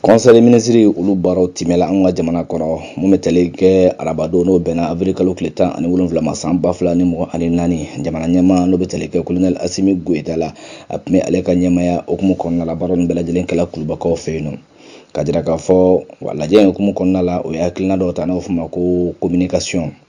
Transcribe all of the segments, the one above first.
conseil des ministres olu baaraw timɛla an ka jamana kɔnɔ mun bɛ tali kɛ arabadon n'o bɛnna avril kalo tile tan ani wolonwula ma san ba fila ni mugan ani naani jamana ɲɛmaa n'o bɛ tali kɛ kolonɛli asimi goyita la a tun bɛ ale ka ɲɛmaaya hukumu kɔnɔna la baara nin bɛɛ lajɛlen kɛla kulubakaw fɛ yen nɔ ka jira k'a fɔ wa lajɛ in hukumu kɔnɔna la o ye hakilina dɔw ta n'o fɔ ma ko communication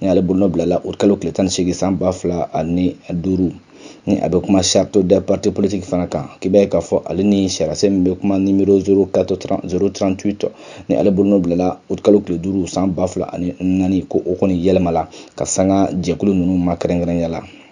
ni ale bolonɔ bilala août kalo tile tan ni seegin san ba fila ani duuru ni a bɛ kuma charte des partis politiques fana kan k'i b'a ye k'a fɔ ale ni sariyasen min bɛ kuma nimero 038 ni ale bolonɔ bilala août kalo tile duuru san ba fila ani naani ko o kɔni yɛlɛmala ka sanga jɛkulu ninnu ma kɛrɛnkɛrɛnya la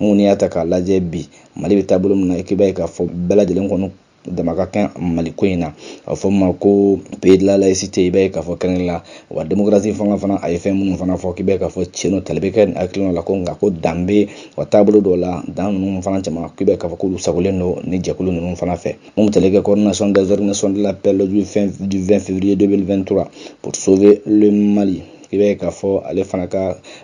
mun n'i y'a ta k'a lajɛ bi mali bɛ taabolo min na i b'a ye k'a fɔ bɛɛ lajɛlen kɔnɔ dama ka kan mali ko in na a fɔ ma ko pays de la laïcité i b'a ye k'a fɔ kɛrɛnkɛrɛnnen la wa démocratie fanga fana a ye fɛn minnu fana fɔ k'i b'a k'a fɔ cɛn tali bɛ kɛ hakilina la ko nka ko dan bɛ wa taabolo dɔw la dan ninnu fana caman k'i b'a k'a fɔ k'olu sagolen don ni jɛkulu ninnu fana fɛ mun bɛ tali kɛ coordination des organisations de l'appel du 20 février 2023 pour sauver le mali i b'a ye k'a fɔ ale fana ka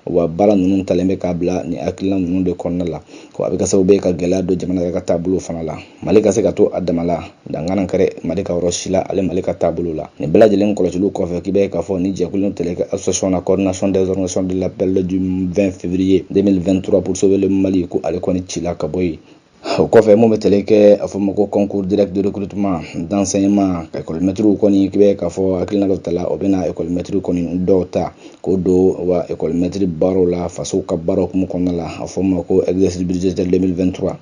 wa baara ninnu talen bɛ k'a bila ni hakilina ninnu de kɔnɔna la ko a bɛ kɛ sababu ye ka gɛlɛya don jamana yɛrɛ ka taabolo fana la mali ka se ka to a dama la dan kana kari mali ka yɔrɔ si la ale mali ka taabolo la nin bɛɛ lajɛlen kɔlɔsiliw kɔfɛ k'i b'a ye k'a fɔ ni jɛkulu tali kɛ association na coordination des organisations de l'appel du 20 février 2023 pour sauver le mali ko ale kɔni cila ka bɔ yen O kɔfɛ mun bɛ tali kɛ a fɔ ma ko concours direct de recrutement d'enseignement ka école maîtriw kɔni k'i bɛ k'a fɔ hakilina dɔ tala o bɛna école maître kɔni dɔw ta k'o don wa école maître baaraw la faso ka baaraw hukumu kɔnɔna la a fɔ ma ko exercice budgétaire 2023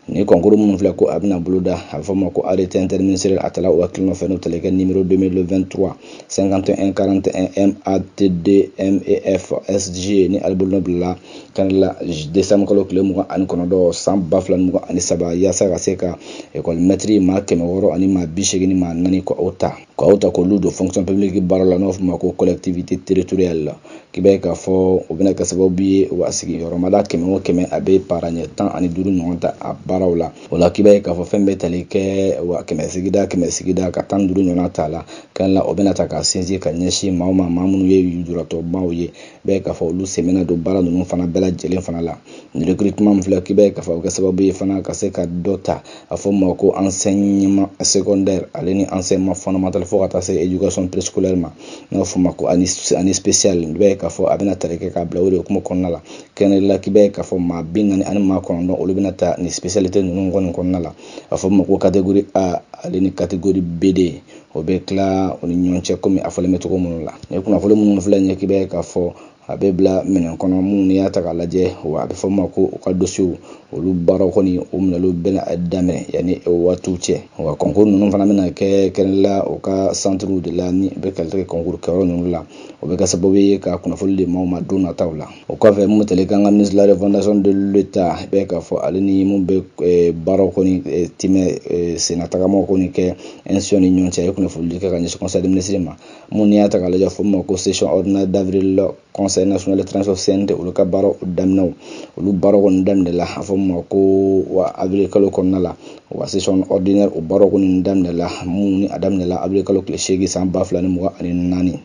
ni concours minnu filɛ ko a bɛna boloda a bɛ fɔ ma ko arrêté interministériel a tala o hakilina fɛ n'o tali kɛ numéro 2023 51 41 MATD MEF SG ni ale bolonɔ bilala kan la décembre kalo tile mugan ani kɔnɔntɔn san ba fila mugan ani saba yaasa ka se ka ekɔli mɛtiri maa kɛmɛ wɔɔrɔ ani maa bi seegin ni maa naani ka o ta ka o ta k'olu don fonction publique baara la n'o fɔ ma ko collectivité territoriale la k'i b'a ye k'a fɔ o bɛna kɛ sababu ye wa sigiyɔrɔmada kɛmɛ o kɛmɛ a bɛ para ɲɛ tan ani duuru ɲɔgɔn ta a baaraw la o la k'i b'a ye k'a fɔ fɛn bɛ tali kɛ wa kɛmɛ sigida kɛmɛ sigida ka tan duuru ɲɔgɔn ta la kan la o bɛna ta ka sinsin ka ɲɛsin maa o maa maa minnu ye lujuratɔbaw ye bɛ k'a fɔ olu sen bɛna don baara ninnu fana bɛɛ lajɛlen fana la nin recrutement min filɛ k'i bɛ k'a fɔ o bɛ kɛ sababu ye fana ka se ka dɔ ta a fɔ ma ko enseignement secondaire ale ni enseignement fondamental fo ka taa se éducation préscolaire ma n'a fɔ ma ko ani ani spécial i bɛ k'a fɔ a bɛna tali kɛ k'a bila o de hukumu kɔnɔna la kɛrɛnkɛrɛnnenya la k'i bɛ k'a fɔ maa bi naani ani maa kɔnɔntɔn olu bɛna ta nin spécialité ninnu kɔni kɔnɔna la a fɔ ma ko catégorie A ale ni catégorie B2 o bɛ tila o ni ɲɔgɔn cɛ kɔmi a fɔlen bɛ cogo minnu la ni kunnafoni minnu filɛ ɲɛ k'i b'a ye k'a fɔ a bɛ bila minɛn kɔnɔ minnu n'i y'a ta k'a lajɛ wa a bɛ fɔ ma ko u ka dosiyew olu baaraw kɔni o minɛliw bɛna daminɛ yanni o waatiw cɛ wa kɔnkuru ninnu fana bɛna kɛ kɛrɛnla u ka santiriw de la ni o bɛ tali kɛ kɔnkuru kɛyɔrɔ ninnu la o bɛ kɛ sababu ye ka kunnafoni di maaw ma don nataw la o kɔfɛ mun bɛ tali kɛ an ka ministre de la refondation de l'État i b'a ye k'a fɔ ale ni minnu bɛ eh, baaraw kɔni eh, tɛmɛ eh, sennatagamaw kɔni kɛ institution ni ɲɔgɔn cɛ a ye kunnafonidi kɛ ka ɲɛsin conseil des ministres ma mun n'i y'a ta k'a lajɛ fɔ ma ko session ordinaire d'avril la conseil national de transition CNT olu ka baaraw daminɛw olu baaraw kɔni daminɛ la a fɔ ma ko wa avril kalo kɔnɔna la wa session ordinaire o baaraw kɔni daminɛ la mun ni a daminɛ la avril kalo tile seegin san ba fila ni mugan ani naani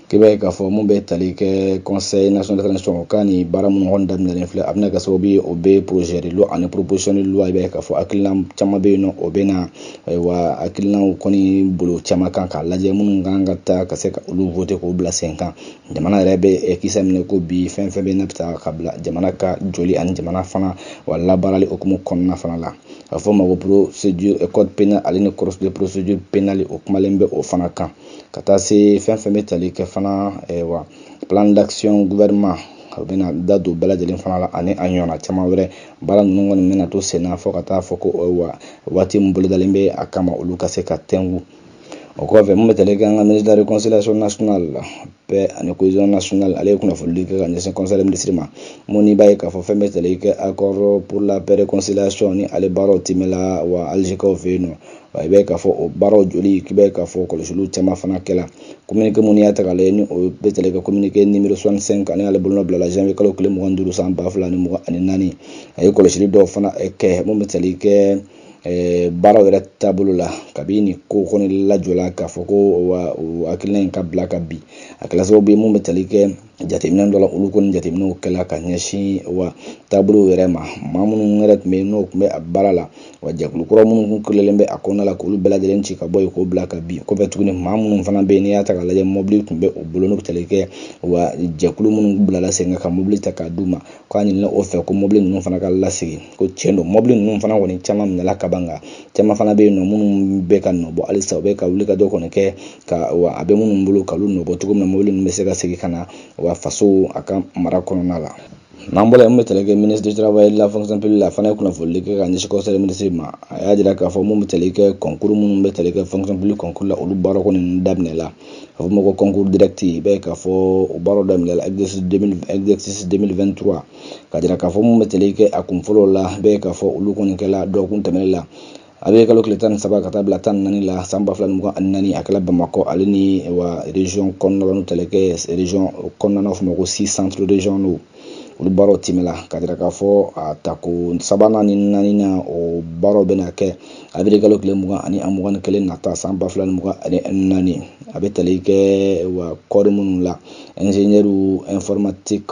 K'i b'a ye k'a fɔ mun bɛ tali kɛ conseil national de transition o ka nin baara minnu kɔni daminɛlen filɛ a bɛna kɛ sababu ye o bɛ projet de loi ani proposition de loi i b'a ye k'a fɔ hakilina caman bɛ yen nɔ o bɛ na ayiwa hakilinaw kɔni bolo caman kan k'a lajɛ minnu kan ka taa ka se ka olu voter k'o bila sen kan jamana yɛrɛ bɛ kisa minɛ ko bi fɛn fɛn bɛ n'a bɛ taa ka bila jamana ka joli ani jamana fana wa labaarali hukumu kɔnɔna fana la a fɔ ma ko procédure code pénal ale ni procédure pénale o kumalen bɛ o fana kan ka taa se fɛn fɛn bɛ tali kɛ fana wa plan d'action gouvernement u bɛna da don bɛɛ lajɛlen fana la ani a ɲɔgɔnna caman wɛrɛ baara ninnu kɔni bɛna to sen na fɔ ka taa fɔ ko wa waati min bolodalen bɛ a kama olu ka se ka tɛngu o kɔfɛ mun bɛ tali kɛ an ka ministre de la réconciliation nationale la paix ani cohésion nationale ale ye kunnafonidi kɛ ka ɲɛsin conseil des ministres ma mun n'i b'a ye k'a fɔ fɛn bɛ tali kɛ accord pour la paix réconciliation ni ale baaraw timɛla wa alizekaw fɛ yen nɔ Wa i b'a ye k'a fɔ o baaraw joli k'i b'a ye k'a fɔ kɔlɔsiliw caman fana kɛla communiqué mun n'i y'a ta k'a lajɛ ni o bɛ tali kɛ communiqué numéro 65 ani ale bolonɔ bilala janvier kalo tile mugan ni duuru san ba fila ni mugan ani naani a ye kɔlɔsili dɔw fana eh, kɛ mun bɛ tali kɛ eh, baaraw yɛrɛ taabolo la kabini nin ko kɔni lajɔla k'a fɔ ko wa hakilina in ka bila ka bin a kɛla sababu ye mun bɛ tali kɛ jateminɛ dɔ la olu kɔni jateminɛw kɛla ka ɲɛsin wa taabolo yɛrɛ ma maa minnu yɛrɛ tun bɛ yen n'o tun bɛ a baara la wa jɛkulu kura minnu tun kelelen bɛ a kɔnɔna la k'olu bɛɛ lajɛlen ci ka bɔ yen k'o bila ka bin kɔfɛ tuguni maa minnu fana bɛ yen n'i y'a ta k'a lajɛ mɔbili tun bɛ u bolo n'o bɛ tali kɛ wa jɛkulu minnu bilala sen kan ka mɔbili ta k'a d'u ma k'a ɲinina o fɛ ko mɔbili ninnu fana ka lasegin ko tiɲɛ don mɔbili ninnu fana kɔni caman minɛla kaban nka caman fana bɛ yen nɔ minnu bɛ ka nɔ bɔ halisa u bɛ ka wuli ka dɔ kɔni kɛ ka wa a bɛ minnu bolo k'olu nɔbɔ cogo min na mobili ninnu bɛ se ka segin ka na wa faso a ka mara kɔnɔna la n'an bɔra yen min bɛ tali kɛ ministre du travail de la fonction publique la a fana ye kunnafonidi kɛ ka ɲɛsin conseil des ministres ma a y'a jira k'a fɔ mun bɛ tali kɛ kɔnkuru minnu bɛ tali kɛ fonction publique kɔnkuru la olu baara kɔni daminɛ la a bɛ fɔ ma ko kɔnkuru direct i b'a ye k'a fɔ o baaraw daminɛ la exercice 2023 ka jira k'a fɔ mun bɛ tali kɛ a kun fɔlɔ la i b'a ye k'a fɔ olu kɔni kɛla dɔgɔkun tɛmɛnen la avril kalo tile tan ni saba ka taa bila tan naani la san ba fila ni mugan ani naani a kɛla bamakɔ ale ni wa région kɔnɔna la n'o tali kɛ région kɔnɔna na fɔ ma ko six centres régionaux olu baaraw timɛla ka jira k'a fɔ a tako sabanan ni naaninan o baaraw bɛna kɛ avril kalo tile mugan ani a mugan ni kelen nata san ba fila ni mugan ani naani a bɛ tali kɛ wa corps minnu la ingénieur informatique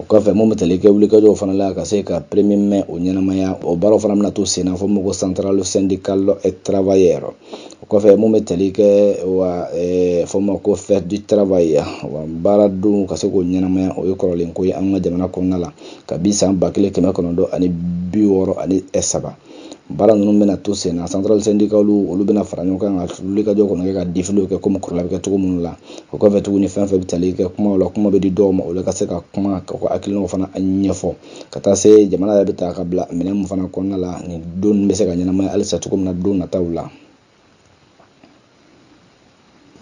o kɔfɛ mun bɛ tali kɛ wulikajɔw fana la ka se ka premier mai o ɲɛnamaya o baaraw fana bɛna to sen na fɔ ma ko centrale syndicale et travailleur o kɔfɛ mun bɛ tali kɛ wa eh, fɔ ma ko fête du travail wa baara don ka se k'o ɲɛnamaya o ye kɔrɔlen ko ye an ka jamana kɔnɔna la kabi san ba kelen kɛmɛ kɔnɔntɔn ani bi wɔɔrɔ ani saba baara ninnu bɛna to sen na centrale syndicale olu bɛna fara ɲɔgɔn kan ka wulikajɔ kɔnɔ kɛ ka defilew kɛ komi kɔrɔla bɛ kɛ cogo minnu la o kɔfɛ tuguni fɛn fɛn bɛ tali kɛ kumaw la kuma bɛ di dɔw ma olu ka se ka kuma ka ko hakilinaw fana ɲɛfɔ ka taa se jamana yɛrɛ bɛ taa ka bila minɛn min fana kɔnɔna la nin don bɛ se ka ɲɛnamaya halisa cogo min na don nataw la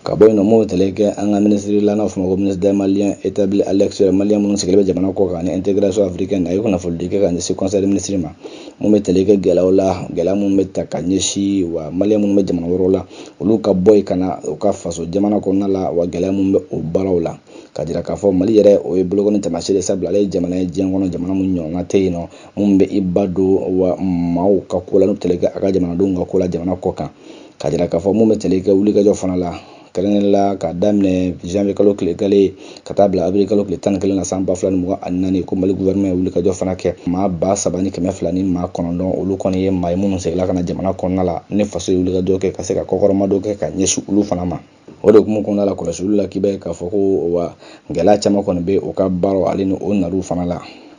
ka bɔ yen nɔ mun bɛ tali kɛ an ka minisiri la n'a fɔ ma ko ministre des maliens établis à l'extérieur maliyɛn minnu sigilen bɛ jamana kɔ kan ani intégration africaine a ye kunnafonidi kɛ ka ɲɛsin conseil des ministres ma mun bɛ tali kɛ gɛlɛyaw la gɛlɛya minnu bɛ taa ka ɲɛsin wa maliyɛn minnu bɛ jamana wɛrɛw la olu ka bɔ yen ka na u ka faso jamana kɔnɔna la wa gɛlɛya minnu bɛ o baaraw la ka jira k'a fɔ mali yɛrɛ o ye bolokɔni taamasiyɛn sabula ale ye jamana ye diɲɛ kɔnɔ jamana min ɲɔgɔnna tɛ yen nɔ mun bɛ i ba don wa maaw ka ko la n'o tali kɛ a ka jamanadenw ka ko la jamana kɔ kan ka jira k'a fɔ mun bɛ tali kɛ wulikajɔ fana la kɛrɛnkɛrɛn la k'a daminɛ janvier kalo tile kelen ka taa bila avril kalo tile tan ni kelen na san ba fila ni mugan ani naani ko mali gouvernement ye wulikajɔ fana kɛ maa ba saba ni kɛmɛ fila ni maa kɔnɔntɔn olu kɔni ye maa ye minnu seginna ka na jamana kɔnɔna la ni faso ye wulikajɔ kɛ ka se ka kɔkɔrɔmadon kɛ ka ɲɛsin olu fana ma o de hukumu kɔnɔna la kɔlɔsiliw la k'i b'a ye k'a fɔ ko wa gɛlɛya caman kɔni bɛ u ka baaraw ale ni o naliw fana la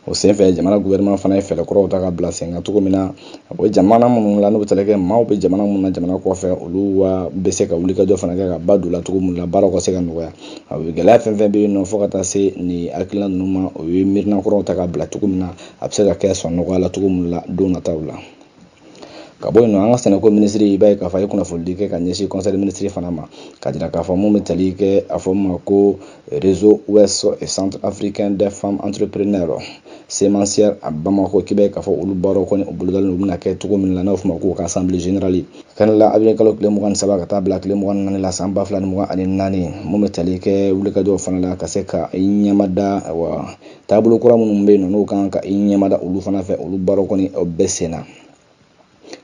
o senfɛ jamana gouvernement fana ye fɛɛrɛ kuraw ta ka bila sen kan cogo min na o jamana minnu la n'u bɛ tali kɛ maaw bɛ jamana minnu na jamana kɔfɛ olu wa bɛ se ka wulikajɔ fana kɛ ka ba don la cogo minnu la baaraw ka se ka nɔgɔya a bɛ gɛlɛya fɛn fɛn bɛ yen nɔ fo ka taa se nin hakilina ninnu ma o ye miirina kuraw ta ka bila cogo min na a bɛ se ka kɛ sɔn nɔgɔya la cogo minnu la don nataw la ka bɔ yen nɔ an ka sɛnɛko minisiri i b'a ye k'a fɔ a ye kunnafonidi kɛ ka ɲɛsin conseil minisiri fana ma ka jira k'a fɔ mun bɛ tali kɛ a fɔ ma ko réseau ouest et centre africain des femmes entrepreneures semencières à bamako k'i b'a ye k'a fɔ olu baaraw kɔni u bolodalen u bɛna kɛ cogo min na n'o fɔ ma ko ka assemblée générale kɛnɛ la avril kalo tile mugan ni saba ka taa bila tile mugan ni naani la san ba fila ni mugan ani naani mun bɛ tali kɛ wulikajɔw fana la ka se ka i ɲɛmada wa taabolo kura minnu bɛ yen nɔ n'o kan ka i ɲɛmada olu fana fɛ olu baaraw kɔni o bɛ senna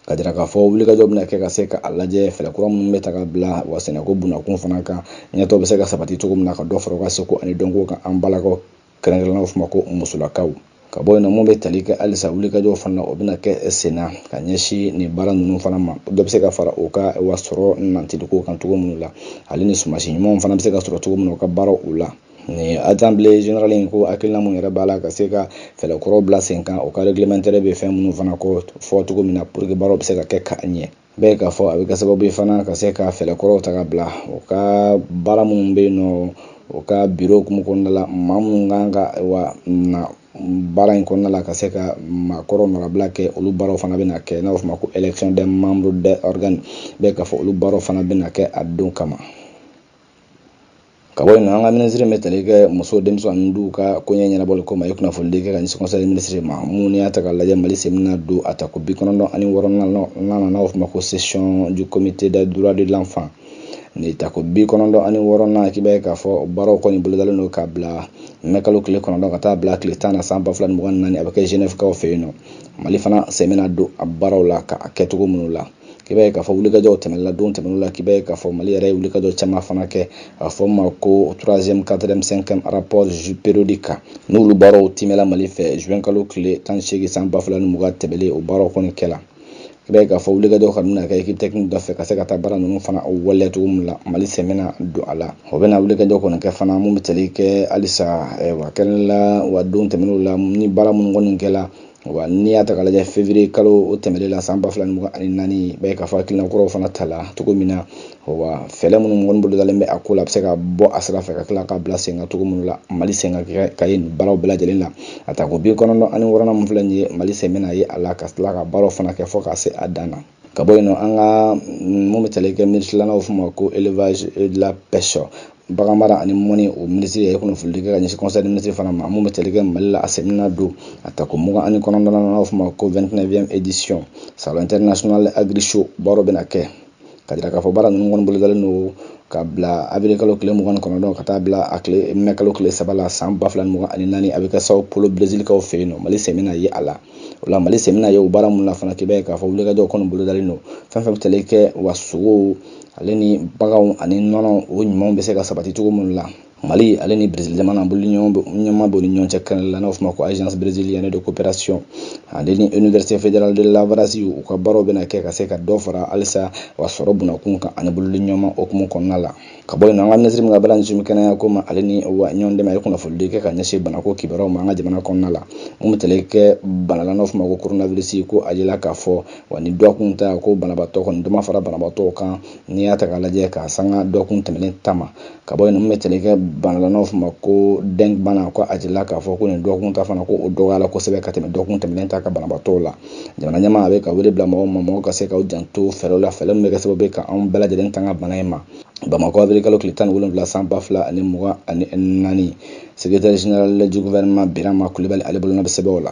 ka jira k'a fɔ wulikajɔ bɛna kɛ ka se ka a lajɛ fɛɛrɛ kura minnu bɛ ta ka bila wa sɛnɛko bunakun fana kan ɲɛtaa bɛ se ka sabati cogo min na ka dɔ fara u ka seko ani dɔnko kan an balakaw kɛrɛnkɛrɛnnenw f'u ma ko musolakaw ka bɔ yen nɔ mun bɛ tali kɛ halisa wulikajɔw fana o bɛna kɛ senna ka ɲɛsin nin baara ninnu fana ma dɔ bɛ se ka fara o ka wa sɔrɔ nantiliko kan cogo minnu la ale ni sumansi ɲumanw fana bɛ se ka sɔrɔ cogo min na u ka baaraw u la ni assemblée générale in ko hakilina mun yɛrɛ b'a la ka se ka fɛɛrɛ kura bila sen kan o ka réglementaire bɛ fɛn minnu fana kofɔ cogo min na pour que baaraw bɛ se ka kɛ ka ɲɛ b'a ye k'a fɔ a bɛ kɛ sababu ye fana ka se ka fɛɛrɛ kuraw ta ka bila o ka baara minnu bɛ yen nɔ o ka biro hukumu kɔnɔna la maa minnu kan ka wa na baara in kɔnɔna la ka se ka maakɔrɔ nɔnabila kɛ olu baaraw fana bɛna kɛ n'a fɔ ma ko élection des membres des organes b'a ye k'a fɔ olu baaraw fana bɛna kɛ a don kama Ka bɔ yen nɔ, an ka minisiri bɛ tali kɛ muso, denmisɛn ani duw ka koɲɛ ɲɛnabɔli ko ma ye kunnafonidi kɛ ka ɲɛsin conseil minisiri ma mun n'i y'a ta k'a lajɛ Mali sen bɛna don a tako bi kɔnɔntɔn ani wɔɔrɔnan na n'a bɛ f'o ma ko session du comité des droits de l'enfant nin tako bi kɔnɔntɔn ani wɔɔrɔnan k'i b'a ye k'a fɔ baaraw kɔni bolodalen don ka bila mɛ kalo tile kɔnɔntɔn ka taa bila tile tan na san ba fila ni mugan ni naani a bɛ kɛ Genève kaw fɛ yen nɔ Mali fana sen bɛna don a baaraw la ka a kɛcogo minnu la k'i b'a ye k'a fɔ wulikajɔw tɛmɛna don tɛmɛnenw la k'i b'a ye k'a fɔ mali yɛrɛ ye wulikajɔ caman fana kɛ a fɔ ma ko troisième quatrième cinquième rapport périodique kan n'olu baaraw tɛmɛla mali fɛ juin kalo tile tan ni seegin san ba fila ni mugan tɛmɛlen o baaraw kɔni kɛla i b'a ye k'a fɔ wulikajɔ kɔni bɛna kɛ équipe technique dɔ fɛ ka se ka taa baara ninnu fana waleya cogo min la mali sen bɛna don a la o bɛna wulikajɔ kɔni kɛ fana mun bɛ tali kɛ halisa wa kɛrɛnkɛrɛnnenya la wa don tɛmɛnenw la ni baara minnu kɔni kɛla wa n'i y'a ta k'a lajɛ février kalo o tɛmɛnen la san ba fila ni mugan ani naani i b'a ye k'a fɔ hakilina kuraw fana tala cogo min na wa fɛɛrɛ minnu kɔni bolodalen bɛ a ko la a bɛ se ka bɔ a sira fɛ ka tila ka bila sen kan cogo minnu la mali sen kan ka ye nin baaraw bɛɛ lajɛlen na a tako bi kɔnɔntɔn ani wɔɔrɔnan min filɛ nin ye mali sen bɛna ye a la ka tila ka baaraw fana kɛ fɔ ka se a dan na ka bɔ yen nɔ an ka mun bɛ tali kɛ minisirilaw f'o ma ko élevage et de la pêche bagan mara ani mɔni o minisiri ye kunnafonidi kɛ ka ɲɛsin conseil minisiri fana ma mun bɛ tali kɛ mali la a sen bɛna don a tako mugan ani kɔnɔntɔn na n'o f'o ma ko 29e édition salon international agrishow baaraw bɛna kɛ ka jira k'a fɔ baara ninnu kɔni bolodalen don ka bila avril kalo tile mugan ni kɔnɔntɔn ka taa bila a tile mɛ kalo tile saba la san ba fila ni mugan ani naani a bɛ kɛ Sao Paulo Brésil kaw fɛ yen nɔ mali sen bɛna ye a la o la mali sen bɛna ye o baara mun na fana k'i b'a ye k'a fɔ wulikajɔ kɔni bolodalen don fɛn fɛn bɛ tali kɛ wa sogow ale ni baganw ani nɔnɔ o ɲumanw bɛ se ka sabati cogo minnu la mali ale ni brésil jamana bolodiɲɔgɔnma b'o ni ɲɔgɔn cɛ kɛnɛ la n'o fɔ ma ko agence brésilienne de coopération ale ni université fédérale de Lavras u ka baaraw bɛna kɛ ka se ka dɔ fara halisa wa sɔrɔ bunakun kan ani bolodiɲɔgɔnma hukumu kɔnɔna la ka bɔ yen an ka minisiri min ka baara ɲɛsin kɛnɛya ko ma ale ni wa ɲɔgɔn dɛmɛ a ye kunnafonidi kɛ ka ɲɛsin banako kibaruyaw ma an ka jamana kɔnɔna la mun bɛ tali kɛ bana la n'a f'o ma ko koronawirisi ko a yela k'a fɔ wa nin dɔkun ta ko banabaatɔ kɔni dɔ ma fara banabaatɔw kan n'i y'a ta k'a lajɛ ka sanga dɔkun tɛmɛnen ta ma ka bɔ yen mun bɛ tali kɛ bana la n'a f'o ma ko dɛnk bana ko a yela k'a fɔ ko nin dɔkun ta fana ko o dɔgɔyala kosɛbɛ ka tɛmɛ dɔkun tɛmɛnen ta ka banabaatɔw la jamana ɲɛmaa bɛ ka wele bila mɔgɔw ma mɔgɔw ka se k'u janto fɛɛrɛw la fɛɛrɛ min bɛ kɛ sababu ye ka anw bɛɛ lajɛlen tanga bana in ma bamakɔ awirili kalo tile tan ni wolonwula san ba fila ani mugan ani naani secrétaire général du gouvernement birama kulibali ale bolonɔ bɛ sɛbɛnw la